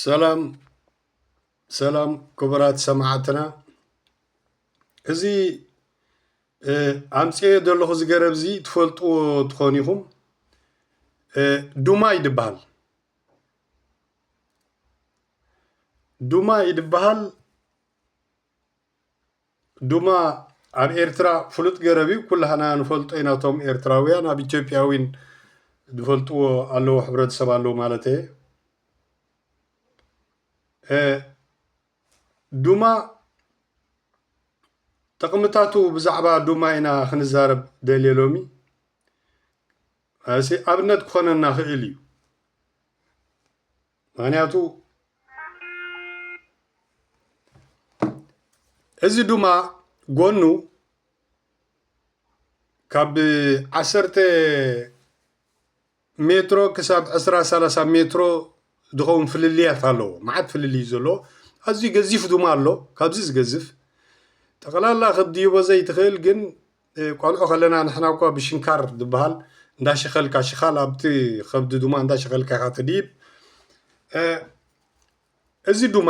ሰላም ሰላም ክቡራት ሰማዕትና እዚ ኣምፅኦ ዘለኹ እዚ ገረብ እዚ ትፈልጥዎ ትኾኑ ኢኹም ዱማይ ድበሃል ዱማይ ድበሃል ዱማ ኣብ ኤርትራ ፍሉጥ ገረብ እዩ ኩላህና ንፈልጦ ኢና እቶም ኤርትራውያን ኣብ ኢትዮጵያ ዊን ዝፈልጥዎ ኣለዎ ሕብረተሰብ ኣለዎ ማለት እየ ዱማ ጥቕምታቱ ብዛዕባ ዱማ ኢና ክንዛረብ ደልየ ሎሚ እሲ ኣብነት ክኾነና ክእል እዩ ምክንያቱ እዚ ዱማ ጎኑ ካብ ዓሰርተ ሜትሮ ክሳብ ዕስራ ሰላሳ ሜትሮ ዝኸውን ፍልልያት ኣለዎ መዓት ፍልልይ እዩ ዘለዎ ኣዝዩ ገዚፍ ድማ ኣሎ ካብዚ ዝገዝፍ ጠቕላላ ክትድይቦ ዘይትኽእል ግን ቆልዑ ከለና ንሕና እኳ ብሽንካር ዝበሃል እንዳሸኸልካ ሽኻል ኣብቲ ከብዲ ድማ እንዳሸኸልካ ኢኻ ትድይብ እዚ ድማ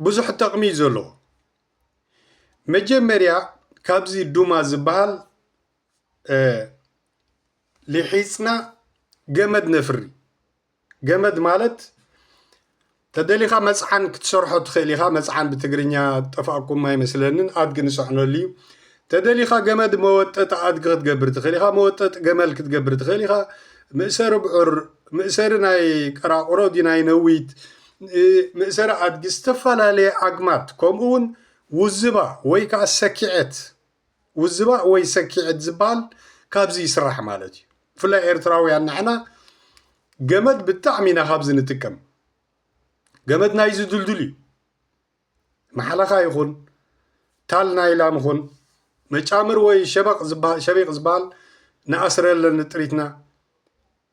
ብዙሕ ጥቕሚ እዩ ዘለዎ መጀመርያ ካብዚ ዱማ ዝበሃል ሊሒፅና ገመድ ነፍሪ ገመድ ማለት ተደሊኻ መጽዓን ክትሰርሖ ትኽእል ኢኻ። መጽዓን ብትግርኛ ጠፋእኩም ኣይመስለንን፣ ኣድጊ ንጸዕነሉ እዩ። ተደሊኻ ገመድ መወጠጢ ኣድጊ ክትገብር ትኽእል ኢኻ፣ መወጠጢ ገመል ክትገብር ትኽእል ኢኻ፣ መእሰሪ ብዑር፣ መእሰሪ ናይ ቀራቑሮ ድዩ ናይ ነዊት፣ መእሰሪ ኣድጊ፣ ዝተፈላለየ ኣግማድ ከምኡውን ውዝባ ወይ ከዓ ሰኪዔት ውዝባእ ወይ ሰኪዔት ዝባሃል ካብዚ ይስራሕ ማለት እዩ ብፍላይ ኤርትራውያን ንሕና ገመድ ብጣዕሚ ኢና ካብዚ ንጥቀም ገመድ ናይዚ ድልዱል እዩ ማሓለኻ ይኹን ታል ናይላም ይኹን መጫምር ወይ ሸበቕ ዝባሃል ሸቢቕ ዝባሃል ንኣስረለን ጥሪትና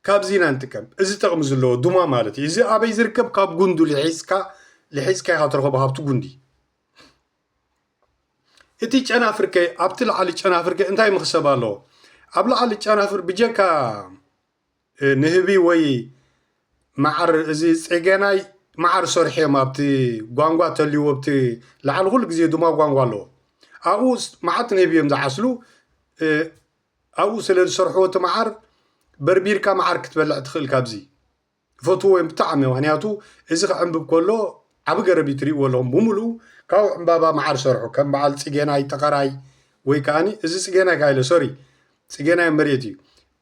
ካብዚ ኢና ንጥቀም እዚ ጥቕሚ ዘለዎ ዱማ ማለት እዩ እዚ ኣበይ ዝርከብ ካብ ጉንዱ ልሒስካ ልሒስካ ኢኻ ትረኸቦ ካብቲ ጉንዲ እቲ ጨናፍርከ ኣብቲ ላዕሊ ጨናፍርከ እንታይ መኽሰብ ኣለዎ? ኣብ ላዕሊ ጨናፍር ብጀካ ንህቢ ወይ መዓር እዚ ጼገናይ መዓር ሰርሑ እዮም ኣብቲ ጓንጓ ተልዎ ኣብቲ ላዕሊ ኩሉ ግዜ ድማ ጓንጓ ኣለዎ ኣብኡ መዓት ንህቢ እዮም ዝዓስሉ ኣብኡ ስለ ዝሰርሕዎ እቲ መዓር በርቢርካ መዓር ክትበልዕ ትኽእል ካብዚ ይፈትዎ እዮም ብጣዕሚ ምክንያቱ እዚ ክዕንብብ ከሎ ዓቢ ገረብ እዩ ትሪእዎ ኣለኹም ብምሉኡ ካብኡ ዕንባባ መዓር ሰርሑ ከም በዓል ጽጌናይ ጠቀራይ ወይ ከኣኒ እዚ ጽጌናይ ካኣ ኢለ ሶሪ ጽጌናይ መሬት እዩ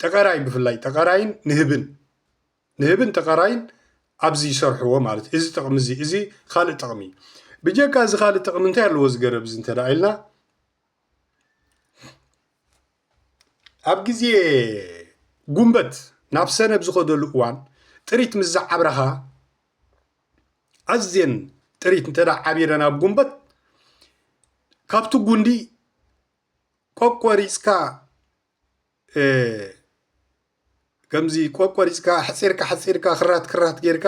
ጠቀራይ ብፍላይ ጠቀራይን ንህብን ንህብን ጠቀራይን ኣብዚ ይሰርሕዎ ማለት እዚ ጥቕሚ እዚ እዚ ካልእ ጥቕሚ እዩ ብጀካ እዚ ካልእ ጥቕሚ እንታይ ኣለዎ እዚ ገረብ እዚ እንተ ኢልና ኣብ ግዜ ጉንበት ናብ ሰነ ኣብ ዝኸደሉ እዋን ጥሪት ምስ ዝዓብራኻ ኣዝየን ጥሪት እንተ ዓቢረን ኣብ ጉንበት ካብቲ ጉንዲ ቆቆሪፅካ ከምዚ ቆቆሪጽካ ኣሕጺርካ ኣሕጺርካ ክራት ክራት ጌርካ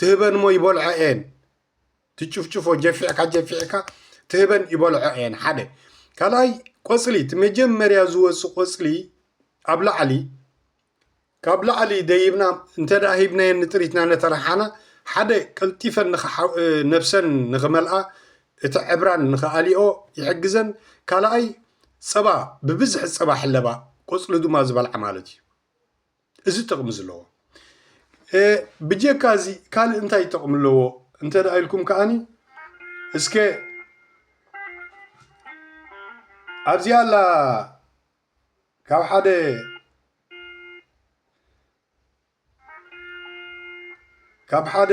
ትህበን እሞ ይበልዖ እየን ትጭፍጭፎ ጀፊዕካ ጀፊዕካ ትህበን ይበልዖ እየን ሓደ ካልኣይ ቆጽሊ እቲ መጀመርያ ዝወፅ ቆፅሊ ኣብ ላዕሊ ካብ ላዕሊ ደይብና እንተ ሂብናየን ንጥሪትና ነተረሓና ሓደ ቀልጢፈን ነብሰን ንክመልኣ እቲ ዕብራን ንክኣሊኦ ይሕግዘን ካልኣይ ጸባ ብብዝሒ ጸባ ሕለባ ቆጽሊ ድማ ዝበልዓ ማለት እዩ እዚ ጥቕሚ ዝለዎ ብጀካ እዚ ካልእ እንታይ ጥቕሚ ኣለዎ እንተ ኢልኩም ከዓኒ እስከ ኣብዚኣ ኣላ ካብ ሓደ ካብ ሓደ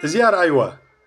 እዚኣ ረኣይዋ።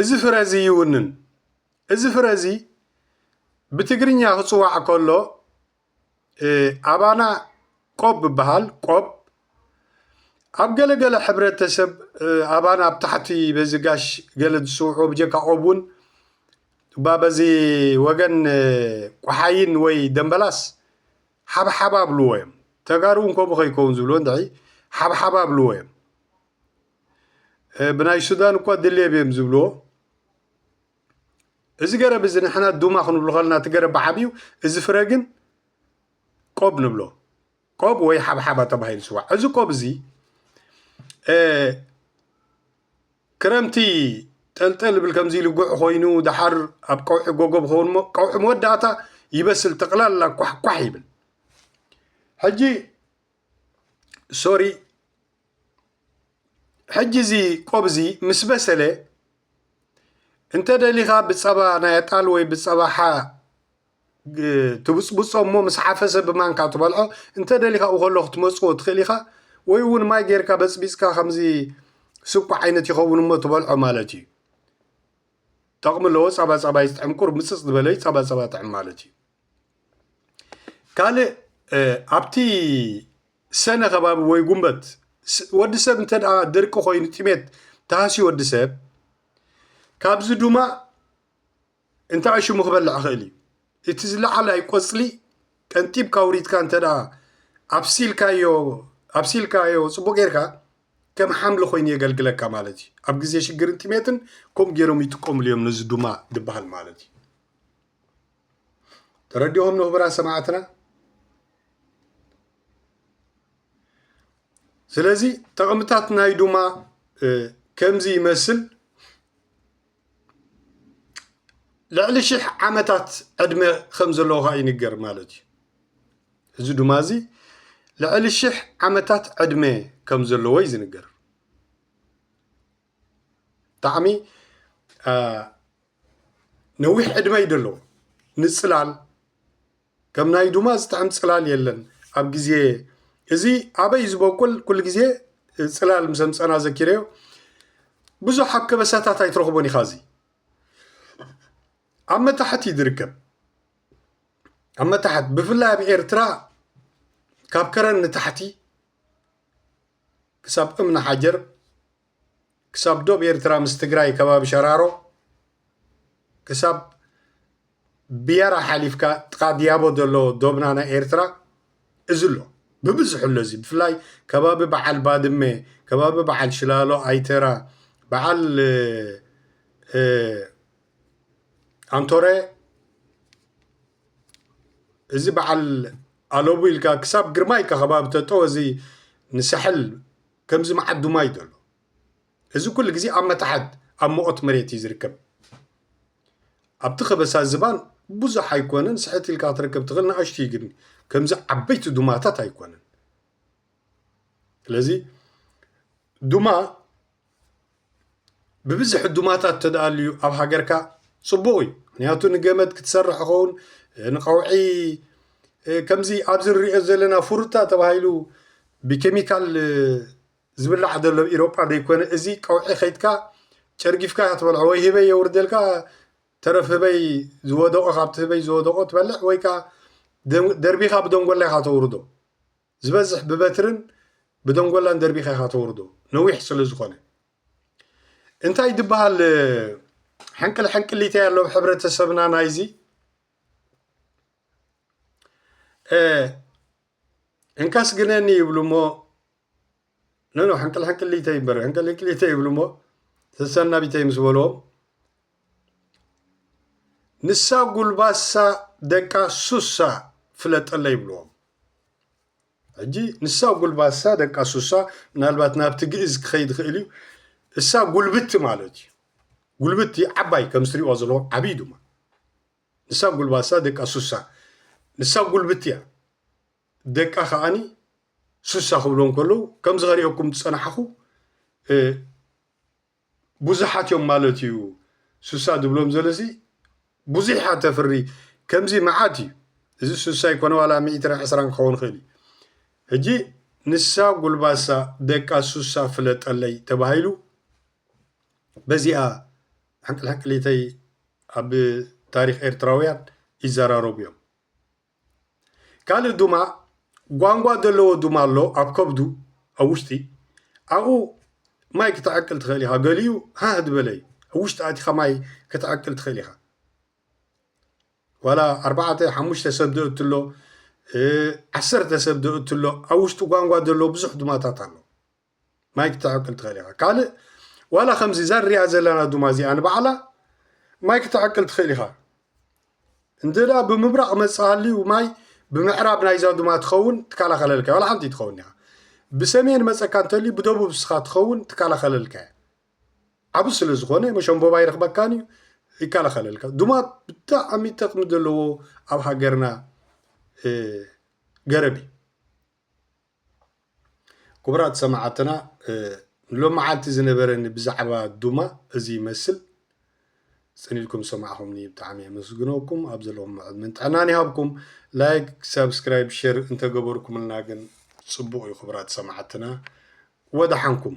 እዚ ፍረ እዚ ይውንን። እዚ ፍረ እዚ ብትግርኛ ክፅዋዕ ከሎ ኣባና ቆብ ይበሃል፣ ቆብ። ኣብ ገለ ገለ ሕብረተሰብ ኣባና ኣብ ታሕቲ በዚ ጋሽ ገለ ዝፅውዑ ብጀካ ቆብ እውን እባ በዚ ወገን ቆሓይን ወይ ደምበላስ ሓብሓባ ብልዎ እዮም። ተጋሩ እውን ከምኡ ከይከውን ዝብልዎ እንድዒ ሓብሓባ ብልዎ እዮም። ብናይ ሱዳን እኳ ድሌብ እዮም ዝብልዎ እዚ ገረብ እዚ ንሕና ዱማ ክንብሎ ከለና እቲ ገረብ ብዓብዩ እዚ ፍረ ግን ቆብ ንብሎ ቆብ ወይ ሓብሓባ ተባሂሉ ይፅዋዕ እዚ ቆብ እዚ ክረምቲ ጠልጠል ብል ከምዚ ልጉዕ ኮይኑ ድሓር ኣብ ቀውዒ ጎጎ ብኸውን ሞ ቀውዒ መወዳእታ ይበስል ጠቕላላ ኳሕኳሕ ይብል ሕጂ ሶሪ ሕጂ እዚ ቆብ እዚ ምስ በሰለ እንተ ደሊኻ ብፀባ ናይ ኣጣል ወይ ብፀባ ሓ ትብፅብፆ እሞ ምስ ሓፈሰ ብማንካ ትበልዖ እንተ ደሊኻ ኣብኡ ከሎ ክትመፅዎ ትኽእል ኢኻ ወይ እውን ማይ ጌርካ በፅቢፅካ ከምዚ ስብኮ ዓይነት ይኸውን እሞ ትበልዖ ማለት እዩ ጠቕሚ ኣለዎ ፀባ ፀባ እዩ ዝጥዕም ቁሩብ ምፅፅ ዝበለ እዩ ፀባ ፀባ ጥዕም ማለት እዩ። ካልእ ኣብቲ ሰነ ከባቢ ወይ ጉንበት ወዲ ሰብ እንተ ድርቂ ኮይኑ ጥሜት ተሃስዩ ወዲ ሰብ ካብዚ ድማ እንታይ ሽሙ ክበልዕ ይኽእል እዩ እቲ ዝለዓላይ ቆፅሊ ቀንጢብካ ውሪትካ እንተ ኣብሲልካዮ ኣብሲልካዮ ፅቡቅ ጌርካ ከም ሓምሊ ኮይኑ የገልግለካ ማለት እዩ ኣብ ግዜ ሽግርን ጥሜትን ከምኡ ገይሮም ይጥቀምሉ እዮም ነዚ ዱማ ዝበሃል ማለት እዩ ተረዲኦም ንክቡራት ሰማዕትና ስለዚ ጥቕምታት ናይ ዱማ ከምዚ ይመስል ልዕሊ ሽሕ ዓመታት ዕድመ ከም ዘለዎ ከዓ ይንገር ማለት እዩ እዚ ዱማ እዚ ልዕሊ ሽሕ ዓመታት ዕድመ ከም ዘለዎ እዩ ዝንገር ብጣዕሚ ነዊሕ ዕድመ እዩ ደለዎ ንፅላል ከም ናይ ዱማ ዝጥዕም ፅላል የለን ኣብ ግዜ እዚ ኣበይ ዝበቁል ኩሉ ግዜ ፅላል ምስ ኣምፀና ዘኪረዮ ብዙሕ ኣብ ከበሳታት ኣይትረኽቦን ኢኻ እዚ ኣብ መታሕት እዩ ዝርከብ ኣብ መታሕት ብፍላይ ኣብ ኤርትራ ካብ ከረን ንታሕቲ ክሳብ እምኒ ሓጀር ክሳብ ዶብ ኤርትራ ምስ ትግራይ ከባቢ ሸራሮ ክሳብ ብያራ ሓሊፍካ ጥቃ ድያቦ ዘሎ ዶብና ናይ ኤርትራ እዚ ኣሎ ብብዝሑ ኣሎ እዚ ብፍላይ ከባቢ በዓል ባድመ ከባቢ በዓል ሽላሎ ኣይተራ በዓል ኣንቶረ እዚ በዓል ኣለቡ ኢልካ ክሳብ ግርማ ኢልካ ከባቢ ተጠወ እዚ ንሳሕል ከምዚ መዓዱ ማይ ዘሎ እዚ ኩሉ ግዜ ኣብ መታሕት ኣብ መቆት መሬት እዩ ዝርከብ ኣብቲ ከበሳ ዝባን ብዙሕ ኣይኮነን ስሕት ኢልካ ክትረከብ ትኽእል ንኣሽቱ እዩ ግን ከምዚ ዓበይቲ ዱማታት ኣይኮነን ስለዚ ዱማ ብብዝሒ ዱማታት ተደኣልዩ ኣብ ሃገርካ ፅቡቕ እዩ ምክንያቱ ንገመድ ክትሰርሕ ይኸውን ንቀውዒ ከምዚ ኣብዚ ንሪኦ ዘለና ፍሩታ ተባሂሉ ብኬሚካል ዝብላዕ ዘሎ ኢሮጳ ዘይኮነ እዚ ቀውዒ ከይድካ ጨርጊፍካ እያ ትበልዖ ወይ ህበይ የውርደልካ ተረፍ ህበይ ዝወደቆ ካብቲ ህበይ ዝወደቆ ትበልዕ ወይ ከዓ ደርቢኻ ብደንጎላ ኢኻ ተውርዶ ዝበዝሕ ብበትርን ብደንጎላን ደርቢኻ ኢኻ ተውርዶ ነዊሕ ስለ ዝኾነ እንታይ ድበሃል ሕንቅል ሕንቅሊተይ ኣሎ ሕብረተሰብና ናይዚ እንካስ ግነኒ ይብሉ እሞ ኖኖ ሕንቅልሕንቅሊተይ እምበር ሕንቅልሕንቅሊተይ ይብሉ እሞ ተሰናቢተይ ምስ በልዎም ንሳ ጉልባሳ ደቃ ሱሳ ፍለጠለ ይብልዎም ሕጂ ንሳ ጉልባሳ ደቃ ሱሳ ምናልባት ናብቲ ግእዝ ክኸይድ ይኽእል እዩ እሳ ጉልብቲ ማለት እዩ ጉልብቲ ዓባይ ከም ዝትሪእዎ ዘለዎ ዓብይ ድማ ንሳ ጉልባሳ ደቃ ሱሳ ንሳ ጉልብቲ እያ ደቃ ከኣኒ ሱሳ ክብሎም ከለዉ ከምዚ ከሪኦኩም ዝጸናሕኩ ቡዙሓት እዮም ማለት እዩ ሱሳ ዝብሎም ዘለሲ ቡዙሕ እያ ተፍሪ ከምዚ መዓት እዩ እዚ ሱሳ ይኮነ ዋላ ሚእትን ዕስራን ክኸውን ይኽእል እዩ ሕጂ ንሳ ጉልባሳ ደቃ ሱሳ ፍለጠለይ ተባሂሉ በዚኣ ሕንቅልሕንቅሊተይ ኣብ ታሪክ ኤርትራውያን ይዘራረቡ እዮም ካልእ ዱማ ጓንጓ ደለዎ ዱማ ኣሎ ኣብ ከብዱ ኣብ ውሽጢ ኣብኡ ማይ ክትዕቅል ትኽእል ኢኻ ገሊኡ ሃህ ዝበለ እዩ ኣብ ውሽጢ ኣቲኻ ማይ ክትዕቅል ትኽእል ኢኻ ዋላ ኣርባዕተ ሓሙሽተ ሰብ ደእትሎ ዓሰርተ ሰብ ደእትሎ ኣብ ውሽጢ ጓንጓ ደለዎ ብዙሕ ዱማታት ኣሎ ማይ ክተዕቅን ትኽእል ኢኻ ካልእ ዋላ ከምዚ እዛ ንሪኣ ዘለና ዱማ እዚኣ ንባዕላ ማይ ክተዕቅን ትኽእል ኢኻ እንተ ብምብራቕ መፅሃልዩ ማይ ብምዕራብ ናይዛ ዱማ ትኸውን ትከላኸለልካ ዋላ ሓንቲ ትኸውን ኢኻ ብሰሜን መፀካ እንተልዩ ብደቡብ ስኻ ትኸውን ትከላኸለልካ እያ ዓብ ስለ ዝኾነ መሸንቦባ ይረኽበካን እዩ ይከላኸለልካ ድማ ብጣዕሚ ጠቕሚ ዘለዎ ኣብ ሃገርና ገረብ እዩ ክቡራት ሰማዓትና ሎማዓንቲ ዝነበረኒ ብዛዕባ ዱማ እዚ ይመስል ጽን ኢልኩም ሰማዕኹምኒ ብጣዕሚ የመስግነኩም ኣብ ዘለኹም ዕድመን ጥዕናን ይሃብኩም ላይክ ሳብስክራይብ ሸር እንተገበርኩምልና ግን ጽቡቕ እዩ ክቡራት ሰማዓትና ወደሓንኩም